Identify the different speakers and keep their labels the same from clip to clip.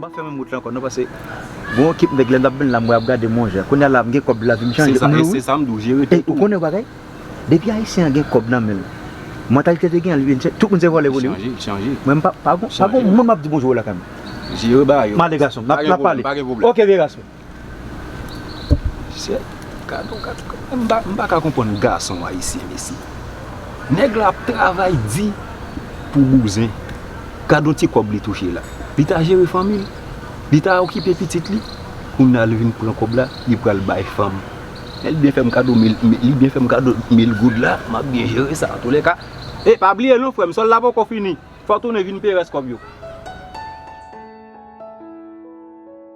Speaker 1: Mwen pa fè menm wout la ankò non pase gon yon ekip nèg lè mtap vin la mwen ap gade mwen jè kounya la mgen kòb lavim chanje pou mwen wi
Speaker 2: e ou konnen yon bagay
Speaker 1: depi ayisyen an gen kòb nan menl mantalite te gen an li vin tout moun se vòlè pou li wi mwen
Speaker 2: pa gon
Speaker 1: moun map di bonjou lakay mwen male
Speaker 2: gason map pale
Speaker 1: ok vye gason. Mesye
Speaker 2: gadon gadon m paka konprann gason ayisyen mesye nèg la ap travay di pou bouzen gadon ti kòb li touche la li ta jere fanmi l li ta okipe pitit li kounya li vin pran kòb la li pral bay fanm lè li byen fè m kado mil li byen fè m kado mil goud la m ap byen jere sa antoulèka e pa bliye non frè m sòl la poko fini fò tounen vin peye rès kòb yo.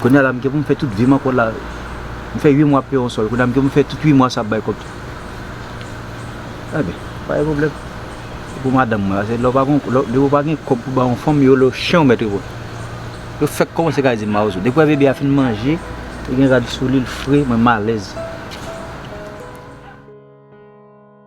Speaker 1: Kounye a la m gen pou m fè tout vi m ankò la. M fè 8 mwa ap peye yon sòl. Kounye a m gen pou m fè tout 8 mwa sa ap bay kòb tou. Ebyen, pa gen pwoblèm. Se pou madanm mwen. Pase lè w pa gen, depi w pa gen kòb pou bay yon fanm, yo lè w chen ou mèt reponn. Yo fèk kòmanse ka di mawozo. Depi w wè bebe a fin manje, li gen rad sou li, li fre, mwen malèz.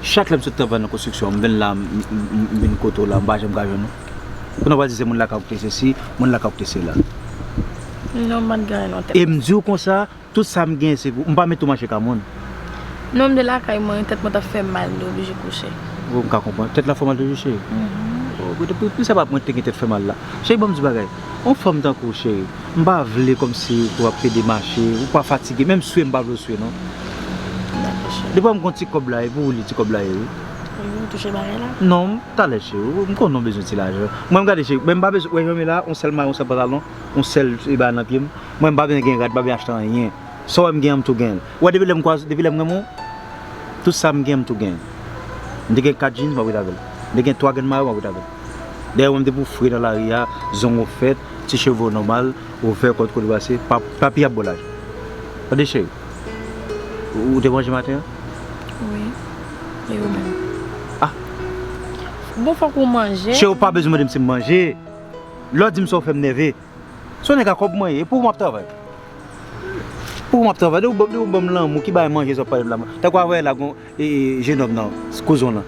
Speaker 1: Chak lèm sot travay nan konstriksyon an, m vin la, m vin kote w la, m pa janm ka jwenn ou. Pou nou pa di se moun lakay ou ki te sesi, moun lakay ou ki te sela. Non,
Speaker 3: m pa t gen anyen nan tèt mwen. E m di w konsa,
Speaker 1: tout sa m gen se pou. M pa mete ou mache ka moun. Non, m te
Speaker 3: lakay mwen, tèt mwen t ap fè m mal, m te oblije kouche. O, m ka konprann.
Speaker 1: Tèt la fè w mal toujou cheri? Mh. O, gade, pou sa pa mwen te gen tèt fè mal la. Cheri, ban m di w bagay. On fanm tankouw cheri m pa vle komsi pou ap pede mache ou pa fatige menm swe m pa vle w swe non Dako cheri Depa m gon ti kob la e pou ou li ti kob la ye wi Ou vin touche bagay
Speaker 3: la? Non talè cheri
Speaker 1: m konnen ou bezwen ti lajan mwen gade cheri men m pa bezwen wè jan m ye la on sèl mayo on sèl pantalon on sèl bagay nan pyem mwen m pa bezwen gen rad m pa bezwen achte anyen sa w wè m gen an m tou genl. Ou wè depi lèm kwaz depi lèm renmen w tout sam gen mtou genyen m te gen 4 jeans map ret avèl m te gen 3 grenn mayo map ret avèl dèyè wèm depi w fre nan lari a zong ou fèt ti cheve w nòmal ou vè kò w t kote brase pa papi ap bò laj tande cheri ou te manje maten an
Speaker 3: wi e ou menm ah bon fòk ou manje cheri ou pa bezwen mandem sim
Speaker 1: manje lè w dim sa ou fèm nève. Son nèg a kòb mwen ye, e pou ou map travay? Pou ou map travay? Depi ou depi ou banm lanmou, ki bagay manje sa wap pale la man. Tankou avè la gon e jenòm nan, kouzon lan.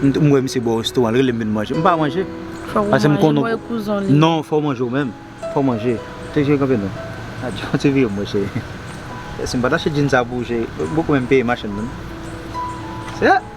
Speaker 1: M wè misye bò resto an, li relem vin manje. M pa manje. Fòk ou manje, m wè kouzon li. Non, fòk ou manje ou menm. Fòk ou manje. Te jwe kanpe non. Adjoo, te vire mwen cheri. Esi m pat achte djin sa pou ou cheri. Boko menm peye machann nan. Se.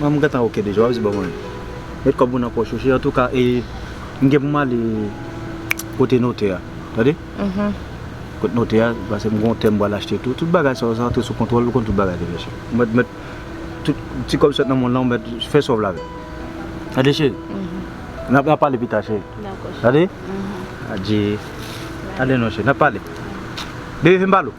Speaker 1: Mwen m gentan ok deja wap di bon mwen met kob ou nan poch ou cheri antouka e m gen pou m ale kote notè a tande kot notè a paske m gen yon tè m pral achte tou tout bagay sa yo se antre sou kontwòl ou konn tout bagay tande cheri m mèt met tout ti kob sot nan moun lan ou mèt fè sa w vle avè l tande cheri nap pale pita cheri tande adjee tande non cheri nap pale bebe fè m pale w.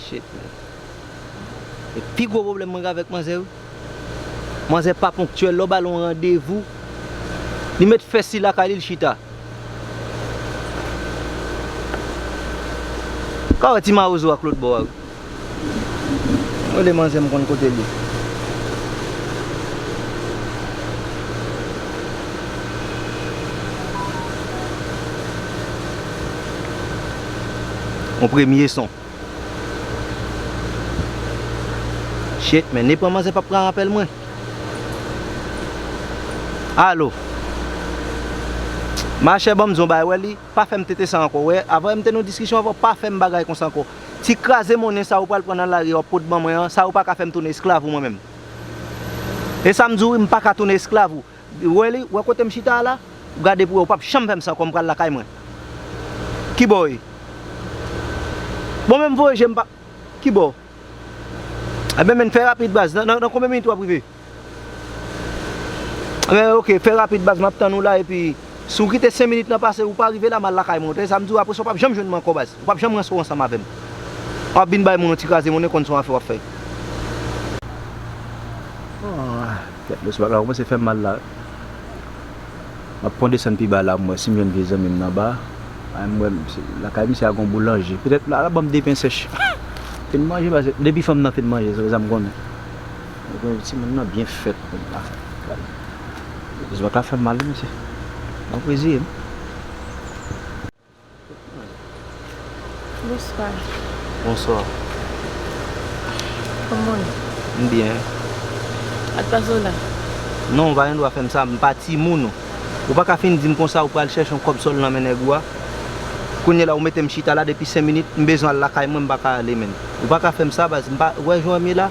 Speaker 1: Shit man. E pi gwo pwoblèm mwen gen avèk manzè wi. Manzè pa ponktyèl, lè w ba l yon randevou, li met fè si lakay li, li chita. Ou ka wè ti mawozo ak lòt bò a wi. Mwen de manzè m konn kote li. Yon premye son. Shit men ni pran manzè pap pran apèl mwen. Alo. Machè banm di yon bagay wè li. Pa fèm tete sa ankò wè avm te nan yon diskisyon avèw pa fèm bagay konsa ankò ti kraze monnen sa ou pral pran nan lari a wap pot ban mwen an sa ou paka fèm tounen esklav ou mwen menm esam diw wi m paka tounen esklav ou ou wè li ou wè kotem chita a la ou gade pou wè ou pap janm fèm sa ankò m pral lakay mwen kibò ou ye bon menm voye jem pa kibò ebyen menn fè rapid baz nan konbyen minit wap rive. Eeh ok fè rapid baz map tann ou la epi si ou kite 5 minit nan pase ou pa rive la mal lakay mwen ou tande sa m diw apresa ou pap janm jwenn mwen ankò baz ou pap janm ranse w ansanm avèm wap vin bay moun yon ti kraze moun e konn son afè wap fè. Aah tèt lòs bagay kòmanse fèm mal la map pwan desann pi ba la m wè sim jwenn vye zanmim nan ba a m wè lakay misye a gon boulanje petèt la lap banm 2 pen sèch fin manje baz depi fanm nan fin manje se konsa m konnen Ebyen timoun nan byen fèt moun nan. Zòt la fèm mal wi mesye. Bon pwezi wi.
Speaker 3: Bonswa. Bonswa. Kòmanw ye? M byen.
Speaker 1: Ak
Speaker 3: pa Zola? Non ou pa
Speaker 1: gen dwa fèm sa, m pa timoun ou. Ou pa ka fin dim konsa ou pral chèche yon kòb sòl nan men nèg ou a. Kounye la ou metem chita la depi 5 minit, m bezwen al lakay mwen m pa ka ale menm. Ou pa ka fèm sa baz, m pa, ou wè jan m ye la?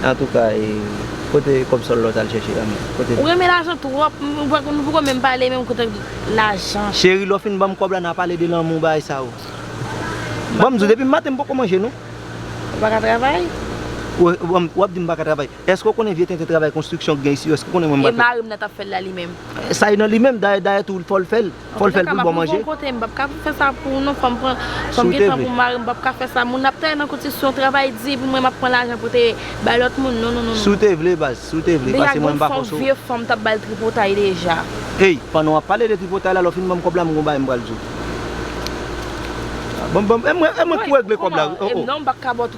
Speaker 1: Antouka e kote kob sol la ou tal chèche la menm kote. Ou renmen lajan trop
Speaker 3: nou poko menm pale menm kote lajan. Cheri lè w fin banm
Speaker 1: kob la na pale de lanmou bagay sa yo. Bon m di w depi m maten m poko manje non. Ou paka
Speaker 3: travay?
Speaker 1: Wap di m paka travay. Eske w konnen vye tenten travay konstriksyon k gen isi yo eske w konnen mwen m pa. E mari m nan tap fè l la li
Speaker 3: menm? Sa e nan li menm
Speaker 1: dayè dayè tou fò l fè l. Fò l fè l pou l bon manje. Mwen pa ka map mete w bò kote, m pap ka fè sa
Speaker 3: pou ou non, fòm pran, fòm gen tan pou mari m, m pap ka fè sa, moun ap travay nan konstriksyon, travay di pou mwen map pran lajan pou te bay lòt moun, non non non non. Si w te vle baz, si
Speaker 1: w te vle, pase mwen m pa fòse w. Deyal gen yon fòm vye fanm tap bal
Speaker 3: tripotay deja. Ey, pandan w ap
Speaker 1: pale de tripotay la, lè w fin ban m kòb la m gen yon bagay m pral di w. Ban m, ban m, e mwen, e mwen ki pou regle kòb la wi, o o. Non m paka ba w.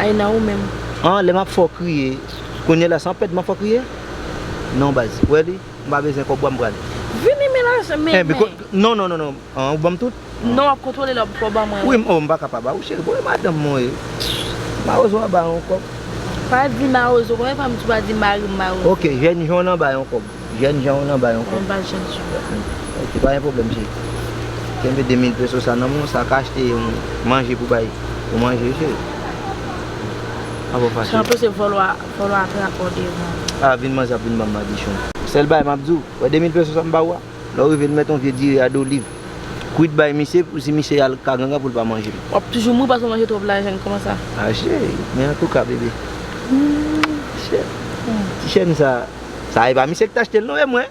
Speaker 1: Aina ou menm.
Speaker 3: An lè map fè w
Speaker 1: kriye Kounye la san pèd map fè w kriye Non baz ou wè li M pa bezwen kòb ou a m pral Vini men lajan men
Speaker 3: men Biko non non non
Speaker 1: An ou banm tout Non wap kontwole lè w
Speaker 3: poko ban mwen Wi m oh m paka pa ba ou
Speaker 1: cheri bon e madanm mwen ye Mawozo a ba yon kòb Pa di
Speaker 3: mawozo konbyen fwa m tou pa di marim mawozo Ok jèn jon an ba
Speaker 1: yon kòb. Jèn jan ou nan ba yon kòb. Mwen bal jèn
Speaker 3: jan sa. Ok pa gen
Speaker 1: pwoblèm cheri. Kenbe 2 mil peso sa nan menw sa ka achte yon manje pou bay pou manje wi cheri. Pa fò fache. Cheri anpil se vòlò a
Speaker 3: vòlò a trap bò devan. A vin
Speaker 1: manze ap vin banm madichon. Sèl bagay map diw, wè 2 mil peso sa m baw a, lèw rive nou mèt yon vye diri a doliv kwit bay misye pou si misye al ka gangan poul pa manjel. Wap toujou mouri paske w manje
Speaker 3: twòp lajan kòman sa. A cheri, men
Speaker 1: antouka bebe. Ti chèn sa. Sa epa misye ki t achte l non e mwen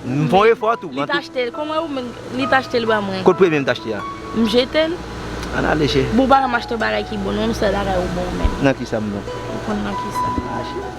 Speaker 1: M fon efò tou Li t achte l Kòman ou menm
Speaker 3: Li t achte l ba mwen Kot premye m t achte a
Speaker 1: M jete l
Speaker 3: An ale
Speaker 1: cheri Bon ou pa janm achte yon bagay
Speaker 3: ki bon non m sèl bagay ou bon menm Nan kisa m bon
Speaker 1: Ou konn nan kisa
Speaker 3: A cheri.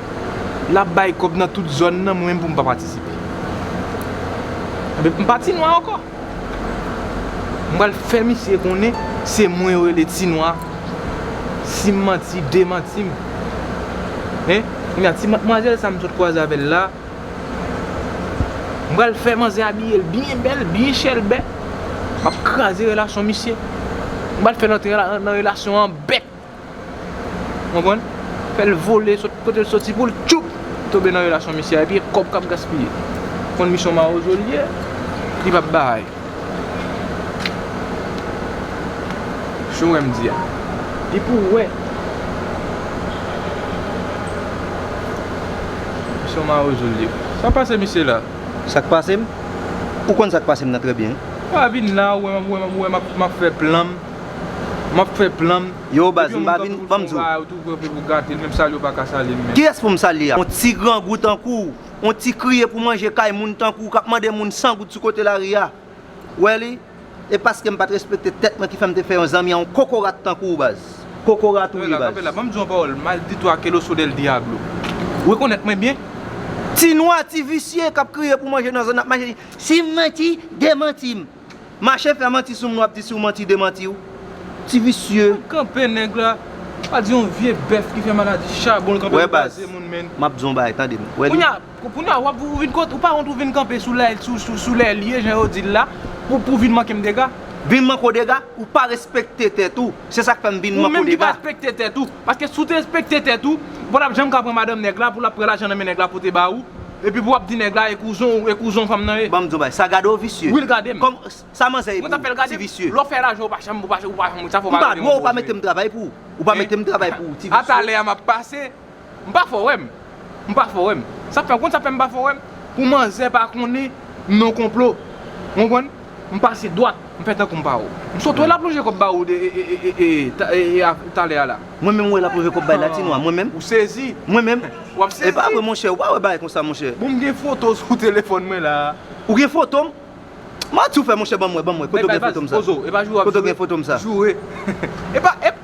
Speaker 2: lap bay kòb nan tout zòn nan mwen menm poum pa patisipe ebyen m pa ti nwa ankò m pral fè misye konnen se mwen yo rele ti nwa sim manti demantim hein kounya ti matmwazèl sa m sot kwaze avèl la m pral fè manzè abiyel byen bèl byen chèlbè map kraze relasyon misye m pral fèl antre nan relasyon an bèt. Ou konprann? Fèl vole sot kotel t soti poul tchupp tobe nan relasyon misye a epi e kòb kap gaspiye. Ou konn misyon mawozo li ye li pap bay. Si w wèm di a. Li pou w wè. Misyon mawozo li ye. Sa pase misye la? Sak pasem?
Speaker 1: Ou konn sak pasem nan trè byen. Pa vin la ou
Speaker 2: wè map fè plan m. Map fè plan m. Yo baz m pa vin
Speaker 1: banm di w.
Speaker 2: Kiyès pou m salye a?
Speaker 1: On ti grangou tankou w. On ti kriye pou manje kay moun tankou w kap mande moun 100 goud sou kote lari a. Ou wè li? E paske m pat respekte tèt mwen ki fè m te fè yon zanmi a on kokorat tankou w baz. Kokorat ou ye baz. Kanpe la, banm di w yon pawòl
Speaker 2: maldito akeloso del diablo. Ou rekonèt mwen byen? Ti nwa,
Speaker 1: ti visye kap kriye pou manje nan zòn nan ap mache di, si m manti, demanti m. Mache fè manti sou moun wap di si w manti demanti w. Ti visye. Map kanpe nèg la.
Speaker 2: Pa di yon vye bèf ki fè maladi chabon l kanpe kraze moun
Speaker 1: menn. Wè baz,
Speaker 2: map
Speaker 1: di w yon bagay tande m. Wè li. Kounya, kounya
Speaker 2: wap ou vin kont, ou pa wont ou vin kanpe sou lè, sou lè l ye jan yo di l la pou pou vin manke m dega. Vin manke w dega?
Speaker 1: Ou pa respekte tèt ou. Se sak fè m vin manke w dega. Ou menm ki pa respekte tèt ou. Paske
Speaker 2: si w te respekte tèt ou, ou pa tap janm ka pran madanm nèg la pou lap pran lajan nan men nèg la pote ba ou. Epi pou wap di nèg la e kouzon ou e kouzon fanm nan ye. Banm diw bagay sa gade ou visye.
Speaker 1: Will gadem. Kom
Speaker 2: sa manzè
Speaker 1: ye pou ou. Mwen tap fel gadem. Ti visye. Lè w
Speaker 2: fè lajan ou pa janm ou pa ou pa janm sa fò pa gadem. M pa dwe ou pa metem travay
Speaker 1: pou ou. Ou pa metem travay pou ou ti visye. A talè a map pase.
Speaker 2: M pa fò wèm. M pa fò wèm. Sa fè ou konn sa fèm pa fò wèm. Pou manzè pa konnen non konplo. Ou konprann. M pase dwat, m fè tankou m pa wè w. M sot wè lap lonje kòb ba ou talè a la. Mwen menm wè lap lonje kòb
Speaker 1: bay latino a mwen menm. Ou sezi. Mwen menm.
Speaker 2: Wap
Speaker 1: sezi. Epa vre
Speaker 2: monchè, ou pa
Speaker 1: wè
Speaker 2: bagay
Speaker 1: konsa monchè. Bon m gen foto w sou
Speaker 2: telefòn mwen la a. Ou gen foto m?
Speaker 1: Mati ou fè monchè banm wè, banm wè, kote ou gen foto m sa? Bay bay baz, poze w, epa jou wap joure. Kote ou gen foto
Speaker 2: m sa? Joure. Epa, ep.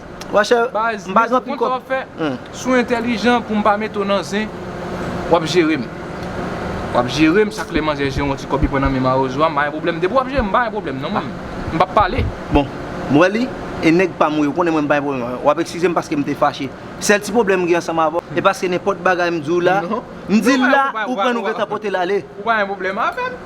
Speaker 2: Baz,
Speaker 1: mezon ou konn sa wap fè,
Speaker 2: si w entèlijan pou m pa mete w nan zen, wap jere m. Wap jere m, chak lè manzè jere yon ti kòb li pran nan men mawozo a, m pa gen pwoblèm. Depi wap jere m, m pa gen pwoblèm non mwen, m pap pale. Bon, m wè
Speaker 1: li, e nèg pa m ou ye, ou konnen mwen m pa gen pwoblèm avè w. Wap ekskize m paske m te fache. Sèl ti pwoblèm m gen ansanm avè w, e paske nenpòt bagay m di w la, m di l la, ou pran l ou gentan pote l ale. Ou pa gen pwoblèm avè
Speaker 2: m?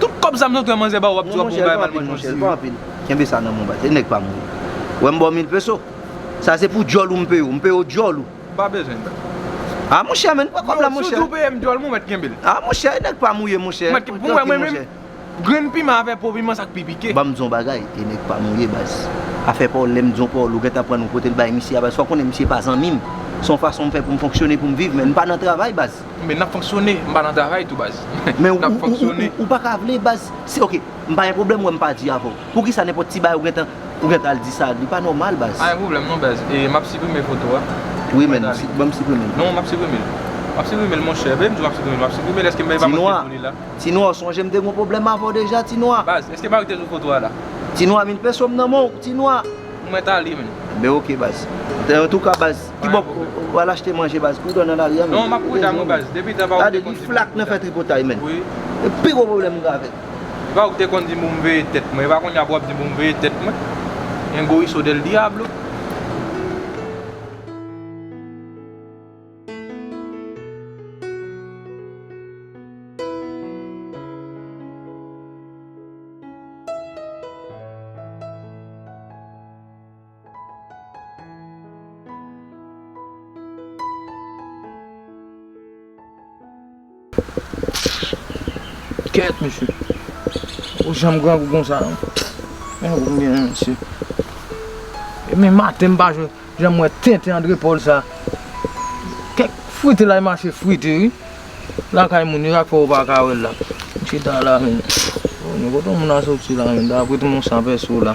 Speaker 2: Tout kòb zam zantray manzè baw wap di wap bon bagay mal manjew diri. Nan monchè l pa anpil non monchè l pa anpil kenbe sa
Speaker 1: nan menw bat e nèg pa mouri wèm baw mil peso sa se pou dyòl ou m peyew m peyew dyòl ou. M pa bezwen l bay.
Speaker 2: A monchè
Speaker 1: men pran kòb la monchè. Yo si w di w peyem dyòl m ou mèt kenbe
Speaker 2: l. A monchè e nèg pa
Speaker 1: mouye monchè tranki monchè.
Speaker 2: Grenn piman avè po piman sak pi pike. Banm di w on bagay e
Speaker 1: nèg pa mouye baz afè pa w lèm di w pa w lou gentan pran nou pote l bay misye a baz fò w konnen misye pa zanmi m son fason m fè pou m fonksyone pou m viv men n pa nan travay baz. Men nap fonksyone,
Speaker 2: m pa nan travay tou baz. Men Nap fonksyone.
Speaker 1: ou paka vle baz, si ok, m pa gen pwoblèm wè m pa di avèw, poukisa nenpòt ti bagay ou gentan, ou gentan al di sa, li pa nòmal baz. Pa gen pwoblèm non baz,
Speaker 2: e map siprime foto a. Wi men,
Speaker 1: banm siprime l. Non map siprime l.
Speaker 2: Map siprime l monchè, men m diw map siprime l, map siprime l eske m bay pa manke pou li la. Ti
Speaker 1: nwa, ou sonje m te gon pwoblèm avèw deja ti nwa. Baz, eske Marie te sou foto
Speaker 2: a la. Ti nwa, min penso
Speaker 1: m nan menw ti nwa. Mwen t ale menn.
Speaker 2: Ebyen ok baz.
Speaker 1: Antouka baz. Kibò ou al achte manje baz? Prudent nan lari an menm. Non map prudan wi baz.
Speaker 2: Depi tan pa ou te konn di moun sa. Gade li flak nan fè
Speaker 1: tripotay menn. Wi. E pi gwo pwoblèm mwen gen avèl. Epa ou te konn
Speaker 2: di m pou m veye tèt mwen. Epa kounya pou wap di m pou m veye tèt mwen. Un goriso del diablo. Kèt mesye. Ou janm grangou konsa non. Men nou konbyen men mesye. E men
Speaker 4: maten m pa jwe. Janm wè tenten André Paul sa. Kèk frite la li mache frite wi. La kay moun yo sak fè ou pa ka wè l la. Chita la men. Kote moun nan soti la men. Dapre tout moun san pè sou la.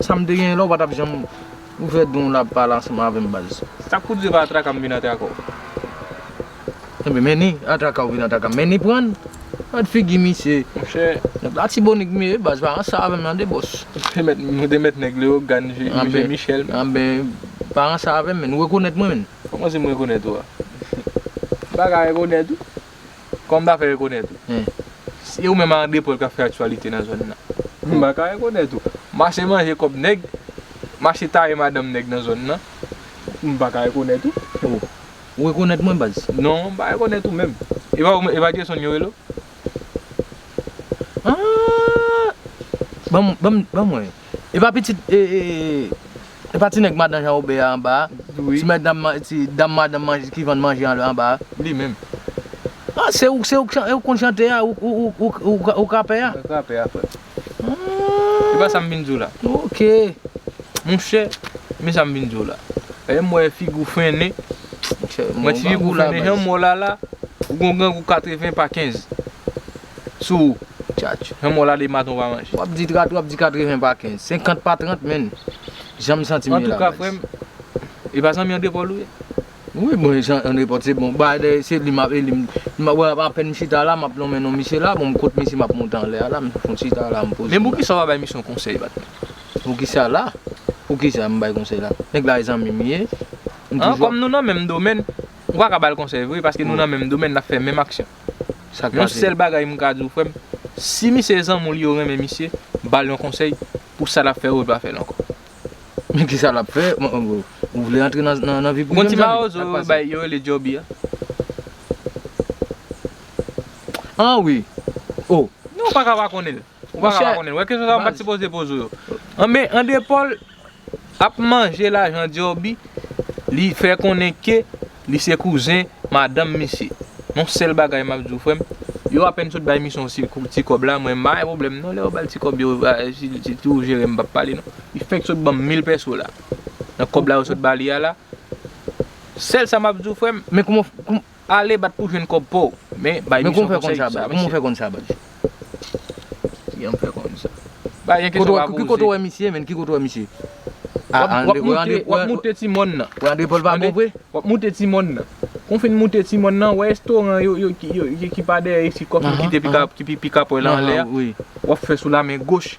Speaker 4: Sam te genyen la ou patap janm ouvè don w la pale ansanm avèm baz. Sak pou diw pa atraka
Speaker 5: m vin atraka w. Ebyen men
Speaker 4: ni atraka ou vin atraka m men ni prann Gad figi misye Monchè Nèg
Speaker 5: latibonit m
Speaker 4: ye baz pa ranse avèm nan de bòs. Nou te mèt
Speaker 5: nèg leyogan je michel menm. Anbè
Speaker 4: pa ranse avèm menn ou rekonèt mwen menn. Kòmanse m rekonèt ou a?
Speaker 5: M paka rekonèt ou. Kòm m pa ka rekonèt ou. Se ou menm ak André Paul k ap fè aktyalite nan zòn nan. M pa ka rekonèt ou. Mache manje kòb nèg, mache taye madanm nèg nan zòn nan. M pa ka rekonèt ou. O! Ou
Speaker 4: rekonèt mwen baz? Non, m pa rekonèt ou
Speaker 5: menm. E pa Dyesonn yo rele
Speaker 4: w? An! Ban mwen yo. Epa pitit epa ti nèg madan jan obe a anba a ti mètdam
Speaker 5: ti
Speaker 4: dam madan ki vann manje anba a li menm
Speaker 5: ah se
Speaker 4: ou se ou ki konn chante a ou k rapè a mwen k rapè a frè
Speaker 5: m epa sam vin di w la ok
Speaker 4: monchè
Speaker 5: men sam vin di w la lèm wè figi w fennen monchè mwen ti figi w fennen jan mò lala ou gon grangou 80 pa 15. sou ou. Tchatch.
Speaker 4: Humm wala de maten ou pa
Speaker 5: manje. Wap di 30 wap di
Speaker 4: 80 pa 15. 50 pa 30 menn. Janm santim ye la guys. Antouka frèm
Speaker 5: e pa zanmi André Paul ou ye? Wi bon e
Speaker 4: André Paul se bon bagay dèyè se li map e li map wè apèn m chita la map lonmen non misye la bon m kot misye map monte anlè a la m fon chita la m poze. Men poukisa ou pa bay misye yon
Speaker 5: konsèy bat men. Poukisa
Speaker 4: la? Poukisa m bay konsèy la? Nèg la e zanmi m ye. An kòm nou
Speaker 5: nan menm domèn ou pa ka bal konsèy vre paske nou nan menm domèn nap fè menm aksyon. Yon
Speaker 4: sèl bagay m
Speaker 5: ka di w frè m, si misye zanmi w li yo renmen misye, ba l yon konsèy pou sa l ap fè yo l pa fè l ankò. Men kisa
Speaker 4: l ap fè, ou vle antre nan vi prive m zanmi? Ou konn ti mawozo yo bay,
Speaker 5: yo rele Djòbi a?
Speaker 4: An wi, oh. Non ou pa ka pa
Speaker 5: konnen l. Ou pa ka pa konnen. Ou wè kesyon sa yo m pat sipoze poze w yo. Anben Andepol ap manje lajan Dyorbi li fè konnen ke li se kouzen madanm misye. Yon sèl bagay map di w frè m, yo apèn sot bay misyon ti kòb la mwen m pa gen pwoblèm non lè yo bal ti kòb yo si ti ou jere m pap pale non. Li fèk sot banm 1000 pèso la nan kòb la yo sot ba li a la. Sèl sa map di w frè m. Men kouman
Speaker 4: Ale bat pou
Speaker 5: jwenn kob paw. Men bay misyon konsèy. Men kouman w fè konn sa baz. Kouman w fè konn
Speaker 4: sa baz.
Speaker 5: Kijan m fè konn sa. Baz gen kesyon pa poze. Ki kote w wè misye menn ki
Speaker 4: kote w wè misye.
Speaker 5: Wap moute ti mòn nan. Wè andre pòl pa bon vre.
Speaker 4: Wap moute ti mòn
Speaker 5: nan. Kon fin moute ti mòn nan wè restoran yo ki pa dèyè isit kòf nou kite pi kapòy la anlè a. Wap fè sou
Speaker 4: la men
Speaker 5: goch.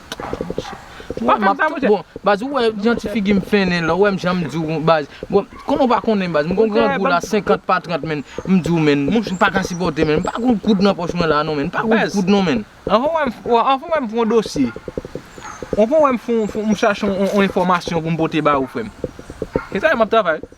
Speaker 5: Ah monchè. Pa fè m sa monchè.
Speaker 4: Bon baz ou wè jan ti figi m fennen la ou wè m jan m di w baz. Bon kòman ou pa konnen baz m gon grangou la 50 pa 30 menn m di w menn m pa ka sipòte menn m pa gon kout nan pòch mwen la non menn m pa gon kout non menn. Anvan wè m anvan
Speaker 5: wè m fè yon dosye anvan wè m fè yon m chache yon enfòmasyon pou m pote ba ou frè m. Se sa m ap travay.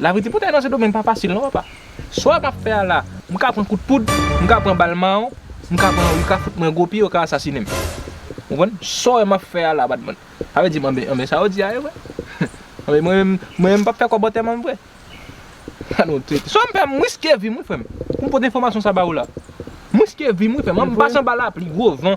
Speaker 5: Lavi ti poutay nan sendomeng pa fasil non papa. Sa map fè a la, m ka pran kout poud, m ka pran bal mawon, m ka pran yo ka fout mwen gwo pye yo ka asasine m. Ou konprann? Sa w wè map fè a la pat bon. Sa vle di m anben anben sa yo di a ye vre. Anben mwen menm mwen menm m pap fè kòb antèman m vre. Gad yon trete. Sa m fè a m riske vi m wi frè m. Pou m pote enfòmasyon sa ba ou la. M riske vi m wi frè m. M pase anba lapli, gwo van.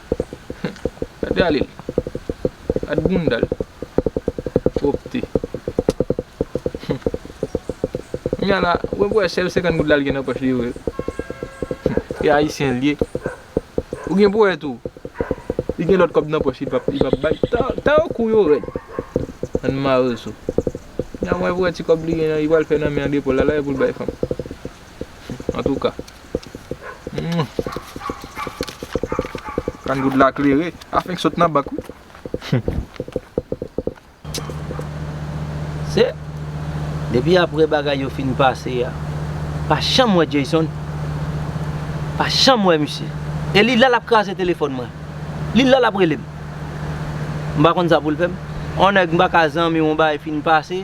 Speaker 5: Gade ale l. Gad bounda l. Pwopte. Kounya la, wap wè sèl 50 goud la li gen nan pòch li yo. E ayisyen l ye. Ou gen pou wè tou, li gen lòt kòb nan pòch li pap bay. Tan yo kou yo rèd. Ann mare l sou. Kounya wap wè ti kòb li gen nan li pral fè nan men an depo l la, la e pou l bay fanm. Antouka. Kann goud la klere. A fenk sot nan bank wi.
Speaker 6: Se Depi apre bagay yo fin pase a M pa janm wè Jayson M pa janm wè misye E li la l ap kraze telefòn mwen Li la l ap rele m M pa konn sa pou l fè m On nèg m pa ka zanmi w on bagay fin pase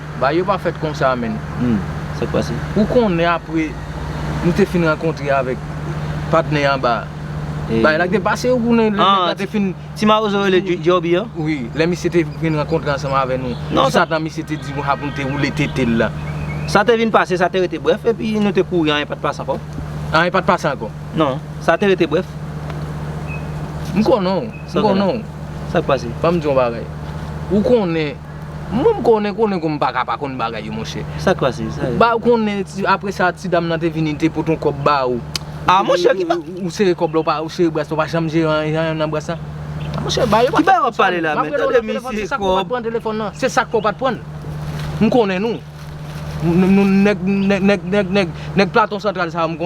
Speaker 6: Bagay yo pa
Speaker 4: fèt konsa menn. Humm. Sak pase?
Speaker 6: Ou konnen apre
Speaker 4: nou te fin rankontre avèk patnè anba a. Bagay la te pase ou konnen lè nèg la te fin. Ah ti mawozo rele
Speaker 6: Djòbi an? Wi, lè misye te
Speaker 4: fin rankontre ansanm avè nou. Non sa. Jisatan misye te di
Speaker 6: nou sa
Speaker 4: pou nou te woule tete l la. Sa te vin pase,
Speaker 6: sa te rete brèf epi nou te kouri anyen pat pase ankò. Anyen pat pase
Speaker 4: ankò? Non. Sa te rete
Speaker 6: brèf. M konnen
Speaker 4: w. M konnen w. Sak
Speaker 6: pase? Banm di w yon bagay.
Speaker 4: Ou konnen. Mwen m konnen konnen kou m paka pa konn bagay yo monchè. Sak pase? Sa yo. Ba
Speaker 6: ou konnen
Speaker 4: apre sa ti dam nan te vini li te pote yon kòb ba ou. Ah monchè ki ba.
Speaker 6: Ou sere kòb la ou pa ou
Speaker 4: sere bras la ou pa janm jere anyen nan bras la. Ah monchè ba yo pa. Ki bagay wap pale la menm? Map rele
Speaker 6: w nan telefòn se sak fè w pat pran
Speaker 4: telefòn nan. Se sak fè w pat pran l. M konnen nou. Nèg nèg nèg nèg nèg platon santral sa yo m konnen.